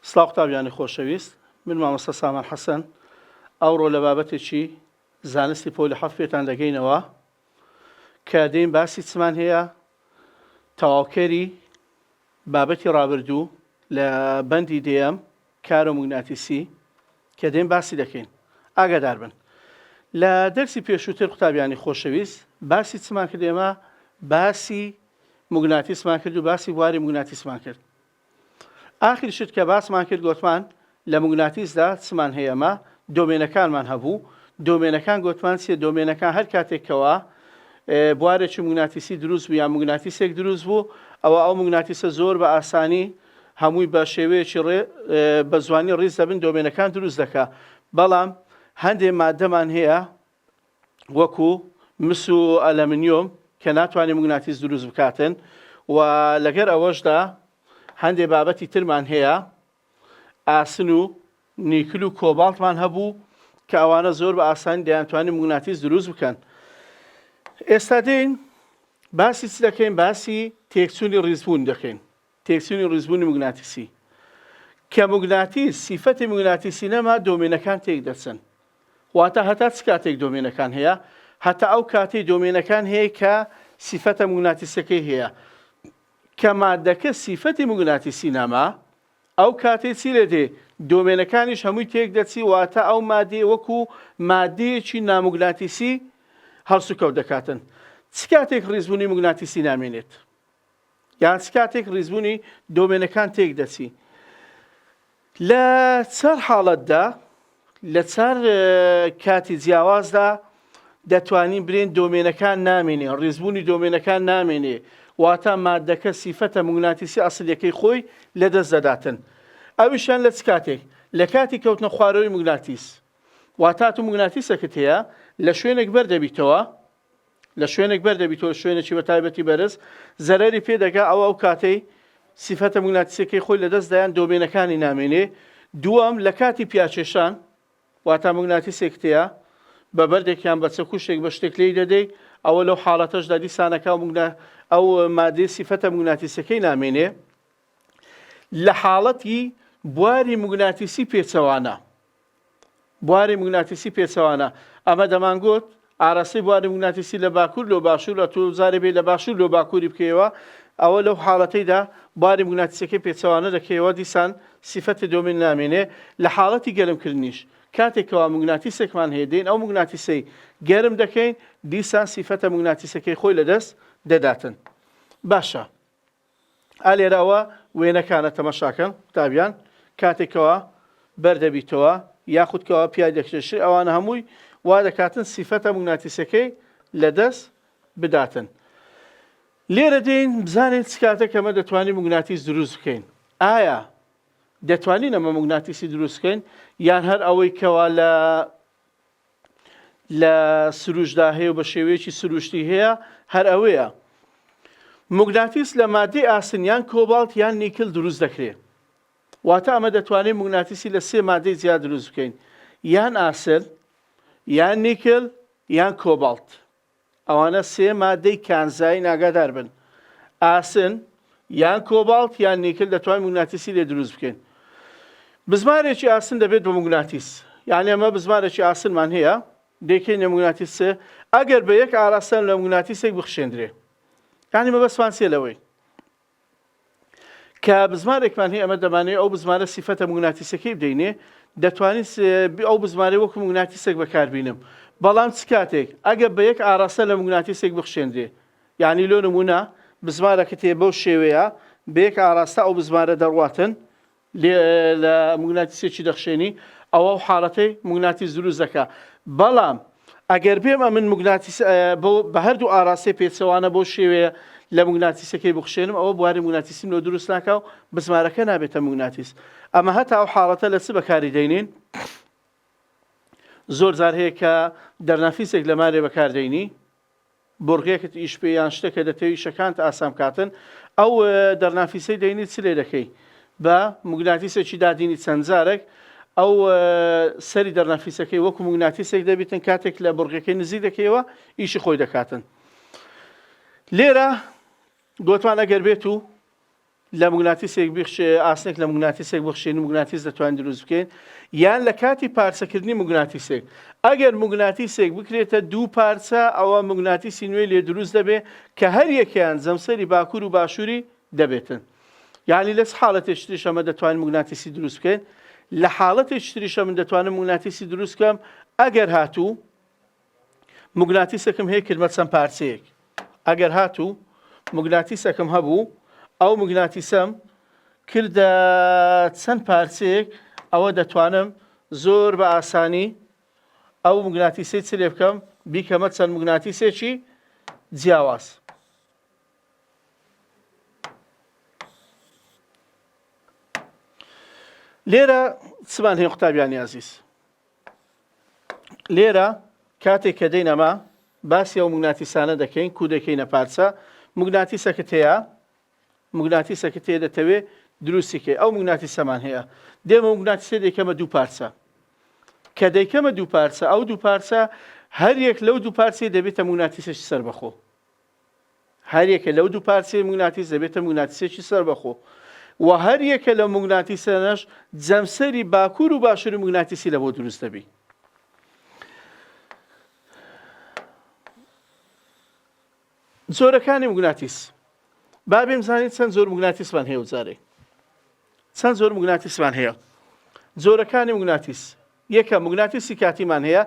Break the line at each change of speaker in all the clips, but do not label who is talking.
سڵاو قوتابیانی خۆشەویست من مامۆستا سامان حەسەن ئەوڕۆ لە بابەتێکی زانستی پۆلی حەفت پێتان دەگەینەوە کە دێین باسی چمان هەیە تەواوکەری بابەتی ڕابردوو لە بەندی دێم کارۆ مگناتیسی کە دێن باسی دەکەین ئاگادار بن لە دەرسی پێشووتر قوتابیانی خۆشەویست باسی چمان کردێمە باسی مگناتیسمان کرد و باسی بواری مگناتیسمان کرد ئاخر شت کە باسمان کرد گۆتمان لە موگناتیسدا چمان هەیە ئەمە دۆمێنەکانمان هەبوو دۆمێنەکان گۆتمان چیە دۆمێنەکان هەر کاتێک کەوا بوارێکی موگناتیسی دروست بوو یا موگناتیسێک دروست بوو ئەوە ئەو موگناتیسە زۆر بە ئاسانی هەمووی بە شێوەیەکی ڕێ بە زوانی ڕیز دەبن دۆمێنەکان دروست دەکا بەڵام هەندێ مادەمان هەیە وەکو مس و ئەلەمنیۆم کە ناتوانێت مگناتیس دروست بکاتن و لەگەر ئەوەشدا هەندێک بابەتی ترمان هەیە ئاسن و نیکل و کۆباڵتمان هەبوو کە ئەوانە زۆر بە ئاسانی دەیانتوانین مگناتیس دروست بکەن ئێستا دێن باسی چ دەکەین باسی تێکچوونی ڕیزبوون دەکەین تێکچوونی ڕیزبوونی موگناتیسی، کە موگناتیس سیفەتی موگناتیسی نەما دۆمێنەکان تێکدەچن، واتا هەتا چ کاتێک دۆمێنەکان هەیە هەتا ئەو کاتەی دۆمێنەکان هەیە کە سیفەتە موگناتیسەکەی هەیە، کە ماددەکە سیفەتی موگناتیسی نەما ئەو کاتەی چی لێدێ دۆمێنەکانیش هەمووی تێکدەچی واتا ئەو ماددەیە وەکو ماددەیەکی ناموگناتیسی هەڵسوکەوت دەکاتن چ کاتێک ڕیزبوونی موگناتیسی نامێنێت؟ یان چ کاتێک ڕیزبوونی دۆمێنەکان تێک دەچی لە چەر حاڵەتدا لە چەر کاتی جیاوازدا دەتوانین برێن دۆمێنەکان نامێنێ ڕێزبوونی دۆمێنەکان نامێنێ واتە مادەکە سیفەتە مگناتیسی ئەسلەکەی خۆی لە دەست دەداتن ئەویشان لە چ کاتێک لە کاتی کەوتنە خوارەوەی مگناتیس واتات و مگناتیسەکەت هەیە لە شوێنێک بەردەبیتەوە لە شوێنێک بەر دەبیتەوە شوێنێکی بە تایبەتی بەرز زەرەری پێ دەگا ئەوە ئەو کاتەی سیفەتە مگناتیسەکەی خۆی لەدەست دایان دۆمێنەکانی نامێنێ دووەم لە کاتی پیاچێشان واتا مگناتیسێک تەیە بە بەردێکیان بە چەکوشێک بە شتێک لی دەدەی ئەوە لەو حاڵەتەشدا دیسانەکە مگنا ئەو مادەی سیفەتە مگناتیسەکەی نامێنێ لە حاڵەتی بواری مگناتیسی پێچەوانە بواری موگناتیسی پێچەوانە. ئەمە دەمانگوت ئاراستەی بواری موگناتیسی لە باکوور لۆ باشوور، ئەتوو جارێ بێی لە باشوور لۆ باکووری بکەیەوە، ئەوە لەو حاڵەتەیدا بواری موگناتیسیەکەی پێچەوانە دەکەیەوە، دیسان سیفەتی دۆمین نامێنێ، لە حاڵەتی گەرم کردنیش، کاتێک کەوا موگناتیسێکمان هەیە دێین ئەو موگناتیسەی گەرم دەکەین، دیسان سیفەتە موگناتیسەکەی خۆی لە دەست دەداتن. باشە. ئا لێرەوە وێنەکانە تەمەشاکەن قوتابیان کاتێک کەوا بەر دەبیتەوە یاخود کەوا پیای دەکرێشێ ئەوانە هەمووی وا دەکاتن سیفەتە موگناتیسەکەی لە دەست بداتن لێرە دێین بزانین سکاتە کەمە دەتوانین مگناتیس دروست بکەین ئایا دەتوانین ئەمە مگناتیسی دروستکەین یان هەر ئەوەی کەوا لە لە سروشدا هەیە و بە شێوەیەکی سروشتی هەیە هەر ئەوەیە مگناتیس لە مادەی ئاسنیان کۆباڵت یان نیکل دروست دەکرێت واتە ئەمە دەتوانێت مگناتیسی لە سێ مادەی جیا دروست بکەین یان ئاسن یان نیکل یان کۆباڵت ئەوانە سێ ماددەی کانزایین ئاگادار بن، ئاسن، یان کۆباڵت یان نیکل دەتوانین موگناتیسی لێ دروست بکەین. بزمارێکی ئاسن دەبێت بە موگناتیس، یانی ئەمە بزمارێکی ئاسنمان هەیە دەیکەینە موگناتیس سێ، ئەگەر بە یەک ئاراستەن لە موگناتیسێک بخشێندرێ. یانی مەبەستمان چیە لەوەی؟ کە بزمارێکمان هەیە ئەمە دەمانەوێت ئەو بزمارە سیفەتە موگناتیسەکەی بدەینێ دەتوانین ئەو بزمارەی وەکو موگناتیسێک بەکاربینم بەڵام چ کاتێک ئەگە بە یەک ئاراستە لە موگناتیسێک بخشێندرێ یعنی لۆ نمونە بزمارەکە تێ بەو شێوەیە بەیەک ئاراستە ئەو بزمارە دەڕواتن لە موگناتیسێکی دەخشێنی ئەوە ئەو حاڵەتەی موگناتیس دروست دەکا بەڵام ئەگەر بێم ئەمن موگناتیس بۆ بە هەردوو ئاراستەی پێچەوانە بەو شێوەیە لە موگناتیسەکەی بخشێنم ئەوە بواری موگناتیسیم لۆ دروست ناکا و بزمارەکە نابێتە موگناتیس ئەمە هەتا ئەو حاڵەتە لە چ بەکاری دەینین زۆر جار هەیە کە دەرنافیسێک لەمانێ بەکاردەینی بۆرقێکت ئیش بێ یان شتەکە دەتەوێ ئیشەکانت ئاسان بکاتن ئەو دەرنافیسەی دەینی چ لێ دەکەی بە موگناتیسێکی دادینی چەند جارێک ئەو سەری دەرنافیسەکەی وەکو موگناتیسێک دەبیتن کاتێک لە بڕگەکەی نزیک دەکەیەوە ئیشی خۆی دەکاتن لێرە گۆتمان ئەگەر بێت و لە موگناتیسێک بخشێ ئاسنێک لە موگناتیسێک بخشێن موگناتیس دەتوانین دروست بکەین یان لە کاتی پارچەکردنی موگناتیسێک ئەگەر موگناتیسێک بکرێتە دوو پارچە ئەوە موگناتیسی نوێی لێ دروست دەبێ کە هەر یەکیان جەمسەری باکوور و باشووری دەبێتن یعنی لەس حاڵەتێک شتریشە مە دەتوانین موگناتیسی دروست بکەین لە حاڵەتێک شتریشە من دەتوانم موگناتیسی دروستکەم ئەگەر هاتوو موگناتیسەکم هەیە کردمە چەند پارچەیەک ئەگەر هاتوو موگناتیسەکم هەبوو ئەو موگناتیسەم کردە چەند پارچەیەک ئەوە دەتوانم زۆر بە ئاسانی ئەو موگناتیسی چ لێ بکەم بیکەمە چەند موگناتیسێکی جیاواز لێرە چمان هەیە قوتابیانی ئازیز لێرە کاتێک کە دێین ئەمە باسی ئەو مگناتیسانە دەکەین کو دەکەینە پارچە مگناتیسەکەت هەیە مگناتیسەکەت هەیە دەتەوێ دروستیکەی ئەو مگناتیسەمان هەیە دێمە مگناتیسە دەکەمە دوو پارچە کە دەیکەمە دوو پارچە ئەو دوو پارچە هەر یەک لەو دوو پارچەی دەبێتە مگناتیسەش سەربەخۆ هەریەکە لەو دوو پارچەی موگناتیس دەبێتە موگناتیسێکی سەربەخۆ و هەریەکە لەو موگناتیسەنەش جەمسەری باکوور و باشووری موگناتیسی لەبۆ دروست دەبی. زۆرەکانی موگناتیس با بێم زانین چەند زۆر موگناتیسمان هەیە و جارێ چەند زۆر موگناتیسمان هەیە زۆرەکانی موگناتیس یەکەم، موگناتیسی کاتیمان هەیە،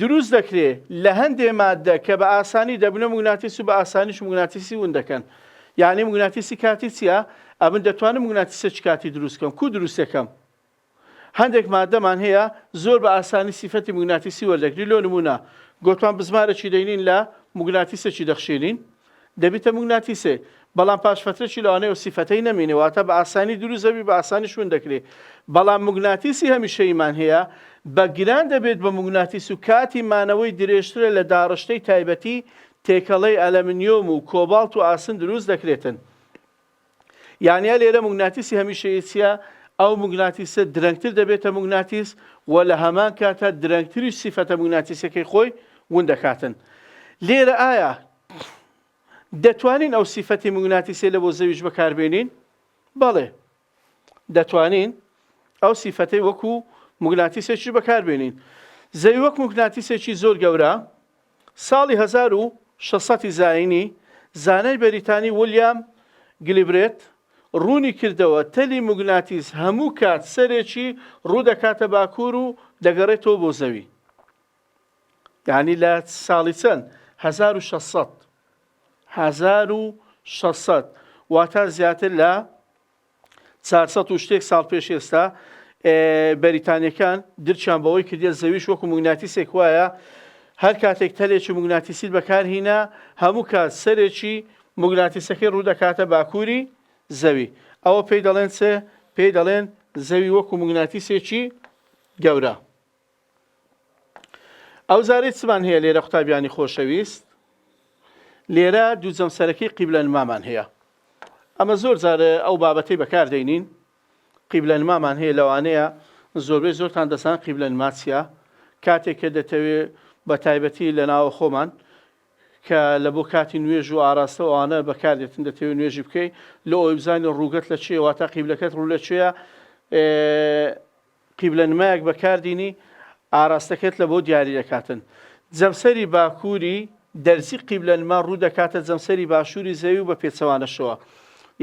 دروست دەکرێ لە هەندێ ماددە کە بە ئاسانی دەبنە موگناتیس و بە ئاسانیش موگناتیسی ون دەکەن. یانی موگناتیسی کاتی چییە؟ ئەمن دەتوانم موگناتیسێکی کاتی دروست کەم. کوو دروست دەکەم؟ هەندێک ماددەمان هەیە زۆر بە ئاسانی سیفەتی موگناتیسی وەردەگری، لۆ نموونە گۆتمان بزمارێکی دەینین لە موگناتیسێکی دەخشێنین، دەبیتە موگناتیسێ بەڵام پاش فەترەکی لەوانەیە ئەو سیفەتەی نەمینێ واتە بە ئاسانی دروست دەبی بە ئاسانیش ون دەکرێ بەڵام موگناتیسی هەمیشەییمان هەیە بە گران دەبێت بە موگناتیس و کاتی مانەوەی درێژترە لە داڕشتەی تایبەتی تێکەڵەی ئەلەمنیۆم و کۆباڵت و ئاسن دروست دەکرێتن. یانە لێرە موگناتیسی هەمیشەیی چیە؟ ئەو موگناتیسە درەنگتر دەبێتە موگناتیس و لە هەمان کاتە درەنگتریش سیفەتە موگناتیسەکەی خۆی ون دەکاتن لێرە ئایا دەتوانین ئەو سیفەتی موگناتیسێ لە بۆ زەویش بەکاربێنین بەڵێ دەتوانین ئەو سیفەتەی وەکو موگناتیسێکی بەکاربێنین زەوی وەک موگناتیسێکی زۆر گەورە ساڵی هەزار و شەش سەد زاینی، زانای بەریتانی ولیام گلیبرێت ڕوونی کردەوە، تەلی موگناتیس هەموو کات سەرێکی ڕوو دەکاتە باکوور و دەگەڕێتەوە بۆ زەوی. یانی لە ساڵی چەند؟ هەزار و شەش سەد. هەزار و شەش سەد. واتا زیاتر لە چار سەد و شتێک ساڵ پێش ئێستا بەریتانیەکان درچیان بەوەی کردە زەویش وەکو مگناتیسێک وایە هەر کاتێک تەلێکی مگناتیسیت بەکارهینا هەموو کات سەرێکی مگناتیسەکەی ڕوودەکاتە باکووری زەوی ئەوە پێی دەڵێن چێ پێی دەڵێن زەوی وەکو مگناتیسێکی گەورە ئەو زارەی چمان هەیە لێرە قوتابیانی خۆشەویست لێرە دوو جەمسەرەکەی قیبلە نمامان هەیە ئەمە زۆر جار ئەو بابەتی بەکار دەینین قیبلە نمامان هەیە لەوانەیە زۆربەی زۆرتان دەسان قیبلە نماچە کاتێک کە دەتەوێ بە تایبەتی لە ناوە خۆمان کە لە بۆ کاتی نوێژ و ئاراستەوانە بەکاردێتن دەتەوێت نوێژی بکەیت لە ئەوی بزانانی ڕووگەت لە چێواتە قیبلەکەت ڕوو لە چێە قیبلە نمایەک بەکاردینی ئاراستەکەت لە بۆ دیاری دەکاتن. جەمسەری باکووری دەرزی قیبلە نما ڕوو دەکاتە جەمسەری باشووری زەوی و بە پێچەوانەشەوە.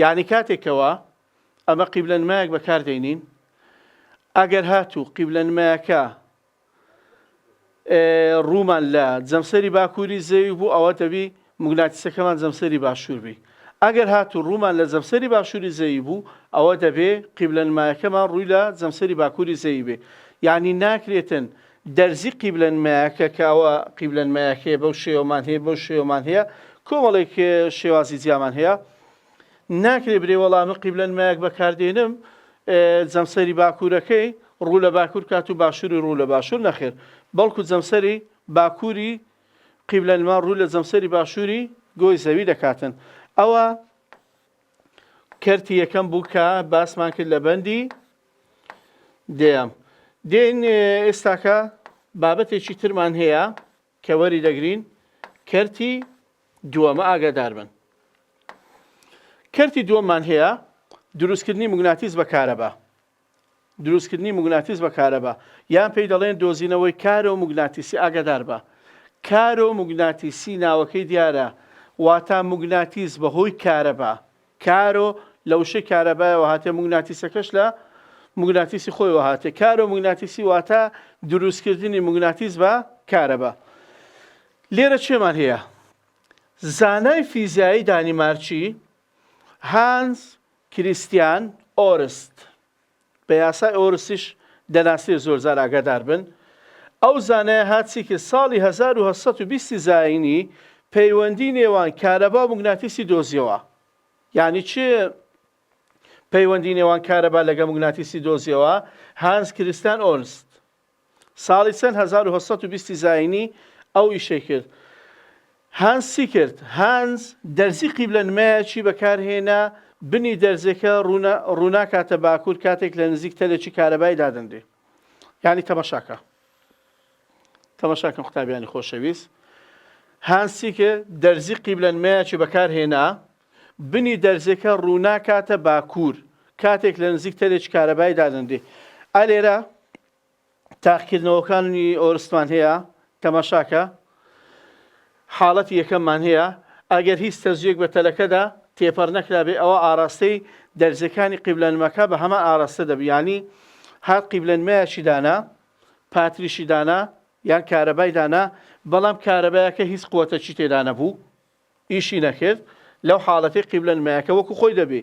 یانی کاتێک کەوا ئەمە قیبلە نمایەک بەکاردێنین ئەگەر هاتوو قیبلە نمایەکە ڕوومان لە جەمسەری باکووری زەوی بوو ئەوە دەبی موگناتیسەکەمان جەمسەری باشوور بی ئەگەر هاتوو ڕوومان لە جەمسەری باشووری زەوی بوو ئەوە دەبێ قیبلە نمایەکەمان ڕووی لە جەمسەری باکووری زەوی بێ یانی ناکرێتن دەرزی قیبلە نمایەکە کە ئەوە قیبلە نمایەکەیە بەو شێوەمان هەیە بەو شێوەمان هەیە کۆمەڵێک شێوازی جیامان هەیە ناکرێ برێ وەڵا من قیبلە نمایەک بەکاردێنم جەمسەری باکوورەکەی ڕوو لە باکوور کات و باشووری ڕوو لە باشوور نەخێر بەڵکو جەمسەری باکووری قیبلە نما ڕوو لە جەمسەری باشووری گۆی زەوی دەکاتن ئەوە کەرتی یەکەم بوو کە باسمان کرد لە بەندی دێم دێن ئێستاکە بابەتێکی ترمان هەیە کە وەری دەگرین کەرتی دووەمە ئاگادار بن کەرتی دووەممان هەیە دروستکردنی مگناتیس بە کارەبا دروستکردنی مگناتیس بە کارەبا یان پێی دەڵێن دۆزینەوەی کارە و مگناتیسی ئاگادار بە کارە و مگناتیسی ناوەکەی دیارە واتا مگناتیس بەهۆی کارەبا کارۆ لە وشەی کارەبایەوە هاتێ موگناتیسەکەش لە موگناتیسی خۆیەوە هاتێ کارۆ موگناتیسی واتە دروستکردنی موگناتیس بە کارەبا لێرە چێمان هەیە زانای فیزیایی دانیمارچی هانز کریستیان ئۆرست بە یاسای ئۆرستیش دەناسرێ زۆرجار ئاگادار بن ئەو زانایە هات چی کرد ساڵی هەزار و هەشت سەد و بیست زایینی پەیوەندی نێوان کارەبا و موگناتیسی دۆزیەوە یانی چ پەیوەندی نێوان کارەبا لەگە موگناتیسی دۆزیەوە هانز کریستان ئۆرست ساڵی چەند هەزار و هەشت سەد و بیست زاینی ئەو ئیشەی کرد. هانز چی کرد؟ هانز دەرزی قیبلە نمایەکی بەکارهێنا، بنی دەرزێکە ڕووناکاتە باکوور کاتێک لە نزیک تەلێکی کارەبای دادەنرێ. یانی تەماشا کە. تەماشا کەن قوتابیانی خۆشەویست. هانز چی کرد؟ دەرزی قیبلە نمایەکی بەکارهێنا، بنی دەرزێکە ڕووناکاتە باکوور کاتێک لە نزیک تەرێکی کارەبایی دادەنرێ ئا لێرە تاقکردنەوەکانی ئۆرستمان هەیە تەماشاکە حاڵەتی یەکەممان هەیە ئەگەر هیچ تەزویەک بە تەلەکەدا تێپەڕ نەکرابێ ئەوە ئاراستەی دەرزەکانی قیبلەنمەکە بە هەمان ئاراستە دەبیانی هات قیبلەنمایەکی دانا پاتریشی دانا یان کارەبای دانا بەڵام کارەبایەکە هیچ قوتەچی تێدا نەبوو ئیشی نەکرد لەو حاڵەتەی قیبلە نمایەکە وەکو خۆی دەبێ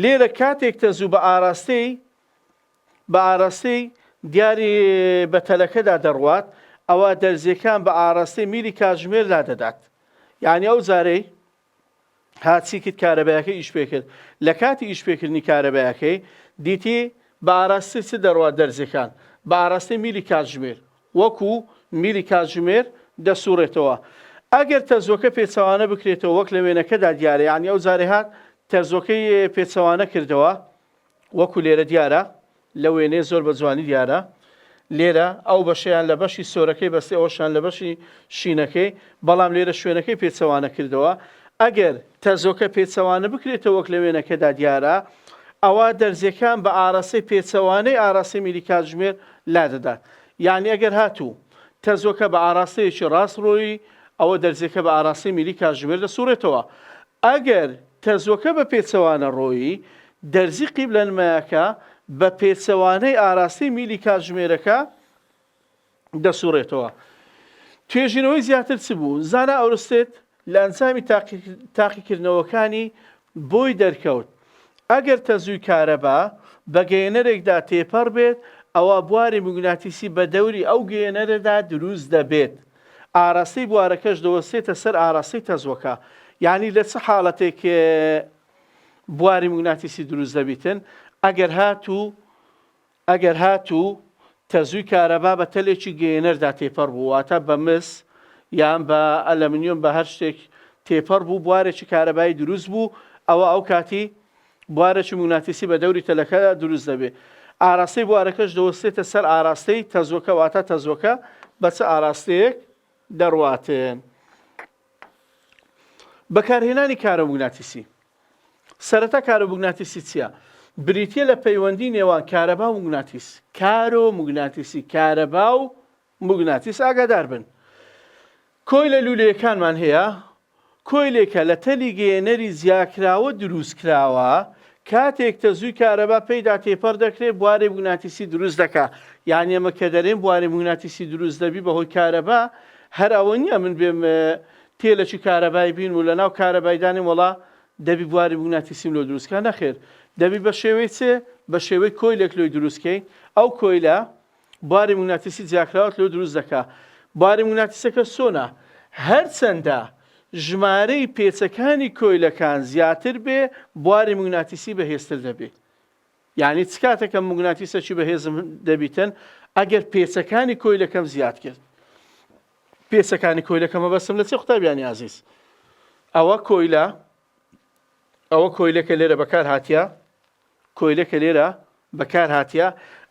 لێرە کاتێک تەزوو بە ئاراستەی بە ئاراستەی دیاری بە تەلەکەدا دەڕوات ئەوە دەرزیەکان بە ئاراستەی میلی کاتژمێر لادەدات یعنی ئەو زارەی هاچی کرد کارەبایەکە ئیش پێکرد لە کاتی ئیش پێکردنی کارەبایەکەی دیتی بە ئاراستە چ دەڕوات دەرزیەکان بە ئاراستەی میلی کاتژمێر وەکو میلی کاتژمێر دەسوڕێتەوە ئەگەر تەرزۆکە پێچەوانە بکرێتەوە وەک لە وێنەکەدا دیارە یانی ئەو جارەی هات تەرزۆکەی پێچەوانە کردەوە وەکو لێرە دیارە لە وێنەیە زۆر بە جوانی دیارە لێرە ئەو بەشەیان لە بەشی سۆرەکەی بەستی ئەوشان لە بەشی شینەکەی بەڵام لێرە شوێنەکەی پێچەوانە کردەوە ئەگەر تەرزۆکە پێچەوانە بکرێتەوە وەک لە وێنەکەدا دیارە ئەوا دەرزیەکان بە ئاراستەی پێچەوانەی ئاراستەی میلی کاتژمێر لادەدات یەعنی ئەگەر هاتوو تەزۆکە بە ئاراستەیەکی ڕاستڕۆی، ئەوە دەرزیەکە بە ئاراستەی میلی کاتژمێر دەسوڕێتەوە. ئەگەر تەزۆکە بە پێچەوانە ڕۆیی، دەرزی قیبلەنمایەکە بە پێچەوانەی ئاراستەی میلی کاتژمێرەکە دەسوڕێتەوە. توێژینەوەی زیاتر چ بوو؟ زانا ئۆرستێد لە ئەنجامی تاقیکردنەوەکانی بۆی دەرکەوت ئەگەر تەزووی کارەبا بە گەیەنەرێکدا تێپەڕ بێت ئەوا بواری موگناتیسی بە دەوری ئەو گەیەنەرەدا دروست دەبێت ئاراستەی بوارەکەش دەوەستێتە سەر ئاراستەی تەزووەکە یانی لە چ حاڵەتێک بواری موگناتیسی دروست دەبیتن ئەگەر هاتوو ئەگەر هاتوو تەزووی کارەبا بە تەلێکی گەیەنەردا تێپەڕ بوو، واتە بە مس یان بە ئەلەمنیۆم بە هەر شتێک تێپەڕ بوو بوارێکی کارەبایی دروست بوو، ئەوا ئەو کاتی بوارێکی موگناتیسی بە دەوری تەلەکە دروست دەبێ. ئاراستەی بوارەکەش دەوەستێتە سەر ئاراستەی تەزووەکە، واتە تەزووەکە بە چ ئاراستەیەک دەڕواتێ. بەکارهێنانی کارەموگناتیسی سەرەتا کارەموگناتیسی چیە؟ بریتیە لە پەیوەندی نێوان کارەبا و موگناتیس کارۆ موگناتیسی کارەبا و موگناتیس ئاگادار بن کۆی لە لولەیەکانمان هەیە کۆیلێکە لە تەلی گەیەنەری زیاکراوە دروست کراوە کاتێک تەزووی کارەبا پێیدا تێپەر دەکرێت بوارێ بووناتیسی دروست دەکا یان ئێمە کە دەرێن بوارێ بووناتیسی دروست دەبی بەهۆی کارەبا هەر ئەوە نیە من بێم تێلەکی کارەبای بینم و لەناو کارەبای دانێم وەڵا دەبی بواری موگناتیسیم لۆ دروست کا نەخێر دەبی بە شێوەی چێ بە شێوەی کۆیلێک لۆی دروست کەی ئەو کۆیلە باری موگناتیسی جیاکراوت لۆ دروست دەکا باری موگناتیسەکە چۆنە هەرچەندە ژمارەی پێچەکانی کۆیلەکان زیاتر بێ بواری موگناتیسی بەهێزتر دەبێ یانی چ کاتێک کە موگناتیسەکی بەهێزم دەبیتن ئەگەر پێچەکانی کۆیلەکەم زیاد کرد پێچەکانی کۆیلەکەمە بەسم لە چی قوتابیانی ئازیز ئەوە کۆیلە ئەوە کۆیلەکە لێرە بەکار هااتە کۆیلەکە لێرە بەکار هااتە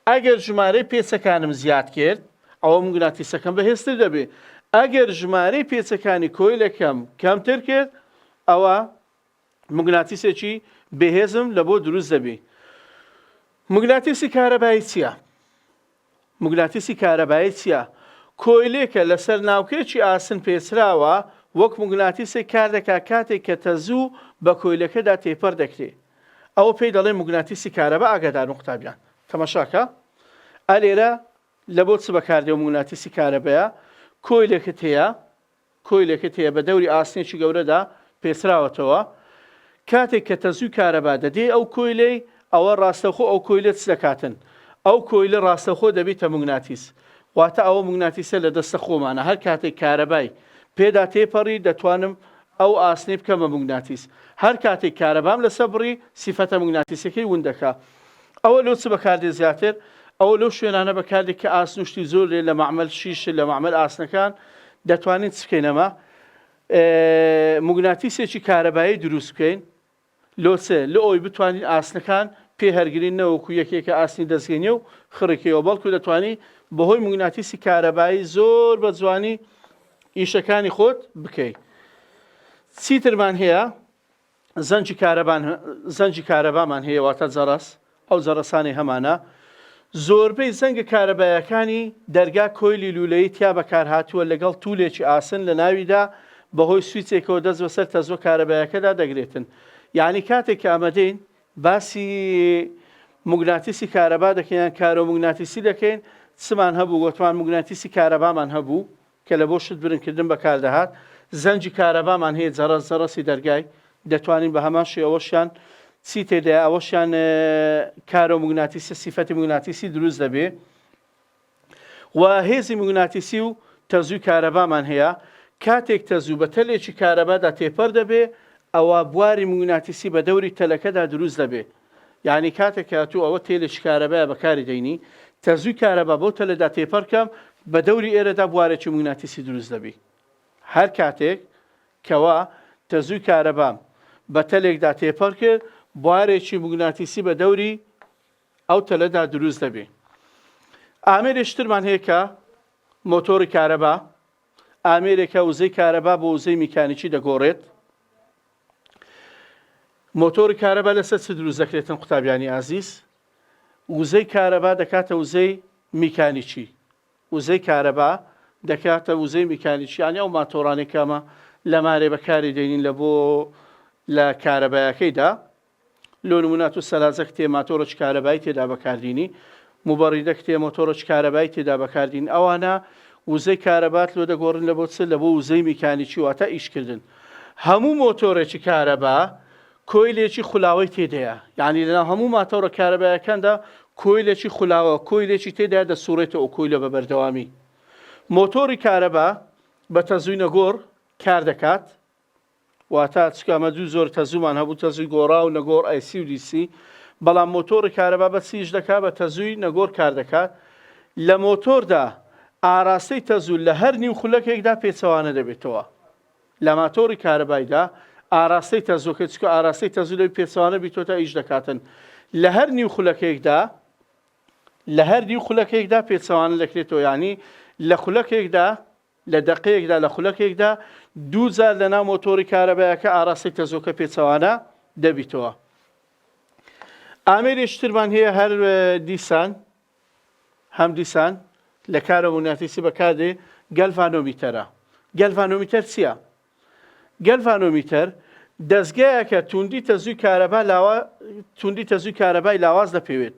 ئەگەر ژمارەی پێچەکانم زیاد کرد ئەوە مگناتیسەکەم بەهێزتر دەبێ ئەگەر ژمارەی پێچەکانی کۆیلەکەم کەمتر کرد ئەوە موگناتیسێکی بێهێزم لە بۆ دروست دەبی. موگناتیسی کارەبایی چییە؟ موگناتیسی کارەبایی چییە؟ کۆیلێکە لەسەر ناوکەیەکی ئاسن پێچراوە وەک موگناتیسێک کار دەکا کاتێک کە تەزوو بە کۆیلەکەدا تێپەر دەکرێ ئەوە پێی دەڵێن موگناتیسی کارەبا ئاگاداربن قوتابیان تەمەشاکە ئەلێرە لە بۆ چ بەکاردێ موگناتیسی کارەبەیە کۆیلێکت هەیە کۆیلەکەت هەیە بە دەوری ئاسنێکی گەورەدا پێچراوەتەوە کاتێک کە تەزووی کارەبا دەدێی ئەو کۆیلەی ئەوە ڕاستەوخۆ ئەو کۆیلە چ دەکاتن ئەو کۆیلە ڕاستەوخۆ دەبیتە موگناتیس واتە ئەوە موگناتیسە لە دەستە خۆمانە هەر کاتێک کارەبای پێدا تێپەڕی دەتوانم ئەو ئاسنەی بکەمە موگناتیس هەر کاتێک کارەبام لەسە بڕی سیفەتە موگناتیسەکەی وون دەکا ئەوە لۆ چ بەکاردێ زیاتر؟ ئەوە لەو شوێنانە بەکاردێ کە ئاسن و شتی زۆر لێن لە مەعمەل شیش لە مەعمەل ئاسنەکان دەتوانین چ بکەین ئەمە موگناتیسێکی کارەبایی دروست بکەین لۆ چ لە ئەوی بتوانین ئاسنەکان پێ هەرگرین نەوەکو یەکێکە ئاسنی دەستگەینێ و خڕێکەوە بەڵکو دەتوانی بەهۆی موگناتیسی کارەبایی زۆر بە جوانی ئیشەکانی خۆت بکەیت چیترمان هەیە زەنگی کارەبان زەنگی کارەبامان هەیە واتە جەرەس ئەو جەرەسانەی هەمانە زۆربەی زەنگە کارەبایەکانی دەرگا کۆیلی لولەی تیا بەکارهاتووە لەگەڵ تولێکی ئاسن لە ناویدا بەهۆی سویچێکەوە دەست بەسەر تەزوە کارەبایەکەدا دەگرێتن یعنی کاتێک کە ئەمەدەین باسی مگناتیسی کارەبا دەکەیان کارۆ مگناتیسی دەکەین چمان هەبوو گۆتمان مگناتیسی کارەبامان هەبوو کە لەبۆ شت برنگ کردن بەکاردەهات، زەنگی کارەبامان هەیە جەڕەس جەڕەسی دەرگای دەتوانین بەهەمان شێ ئەوەشیان چی تێدایە ئەوەشیان کارو موگناتیسی سیفەتی موگناتیسی دروست دەبێ و هێزی موگناتیسی و تەزوی کارەبامان هەیە کاتێک تەزو بە تەلێکی کارەبادا تێپەر دەبێ ئەوا بواری موگناتیسی بە دەوری تەلەکەدا دروست دەبێ یانی کاتێک کە ئەتوو ئەوە تێلێکی کارەبایە بەکاری دەینی تەرزووی کارەبا بەو تەلێدا تێپەرکەم بە دەوری ئێرەدا بوارێکی موگناتیسی دروست دەبی هەر کاتێک کەوا تەزووی کارەبام بە تەلێکدا تێپەر کرد بوارێکی موگناتیسی بە دەوری ئەو تەلەدا دروست دەبی ئامێرێشترمان هەیە کە مۆتۆری کارەبا ئامێرێکە وزەی کارەبا بۆ وزەی میکانیکی دەگۆڕێت مۆتۆری کارەبا لەسەر چ دروست دەکرێتن قوتابیانی ئازیز؟ وزەی کارەبا دەکاتە وزەی میکانیکی وزەی کارەبا دەکاتە وزەی میکانیکی یانی ئەو ماتۆرانەی کە ئەمە لەمارێ بەکاری دێنین لە بۆ لە کارەبایەکەیدا لۆ نموونە تو سەلاجە کتێ ماتۆڕ چ کارەبای تێدا بەکاردینی موبەڕیدە کتێ مۆتۆڕ چ کارەبای تێدا بەکاردین ئەوانە وزەی کارەبات لۆ دەگۆڕن لە بۆ چ لە بۆ وزەی میکانیکی واتە ئیش کردن هەموو مۆتۆرێکی کارەبا کۆیلێکی خولاوەی تێدەیە یعنی لەناو هەموو ماتۆڕە کارەبایەکاندا کۆیلێکی خولاوە کۆیلێکی تێدا دەسوڕێتە ئەو کۆیلە بە بەردەوامی مۆتۆری کارەبا بە تەزوینە گۆڕ کار دەکات واتا چکە ئەمە دوو جۆر تەزوومان هەبوو تەزووی گۆڕا و نەگۆڕ ئایسی و دیسی بەڵام مۆتۆڕی کارەبا بە چیش دەکات بە تەزووی نەگۆر کار دەکات لە مۆتۆردا ئاراستەی تەزوو لە هەر نیو خولەکێکدا پێچەوانە دەبێتەوە لە ماتۆڕی کارەبایدا ئاراستەی تەزۆکە چکە ئاراستەی تەزوو لەوی پێچەوانە بیتۆتە ئیش دەکاتن لە هەر نیو خولەکێکدا لە هەر نیو خولەکێکدا پێچەوانە دەکرێتەوە ینی لە خولەکێکدا لە دەقەیەکدا لە خولەکێکدا دوو جار لە ناو مۆتۆری کارەبایەکە ئاراستەی تەزۆکە پێچەوانە دەبیتەوە. ئامێری شترمان هەیە هەر دیسان هەم دیسان لە کارە موناتیسی بەکاردێ گەلڤانۆمیتەرە. گەلڤانۆمیتەر چییە؟ گەلڤانۆمیتەر دەستگایەکە توندی تەزووی کارەبا لاوا توندی تەزووی کارەبای لاواز دەپێوێت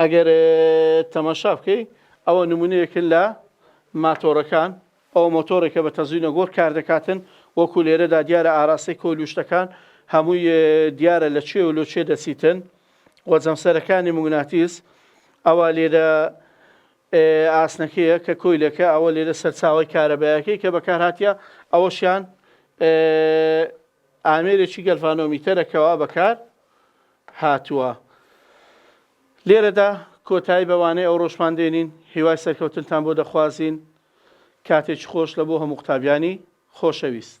ئەگەر تەماشا بکەی ئەوە نمونەیەکن لە ماتۆرەکان ئەو مۆتۆرێکە بە تەزوینە گۆر کار دەکاتن وەکو لێرەدا دیارە ئاراستەی کۆلوشتەکان هەمووی دیارە لە چێ و لۆ چێ دەچیتن وە جەمسەرەکانی مگناتیس ئەوە لێرە ئاسنەکەیە کە کۆیلەکە ئەوە لێرە سەرچاوی کارەبایەکەی کە بەکارهاتە ئەوەشیان ئامێرێکی گەلڤانۆمیتەرە کەوا بەکار هاتووە. لێرەدا کۆتایی بە وانەی ئەوڕۆشمان دێنین، هیوای سەرکەوتنتان بۆ دەخوازین، کاتێکی خۆش لە بۆ هەموو قوتابیانی خۆشەویست.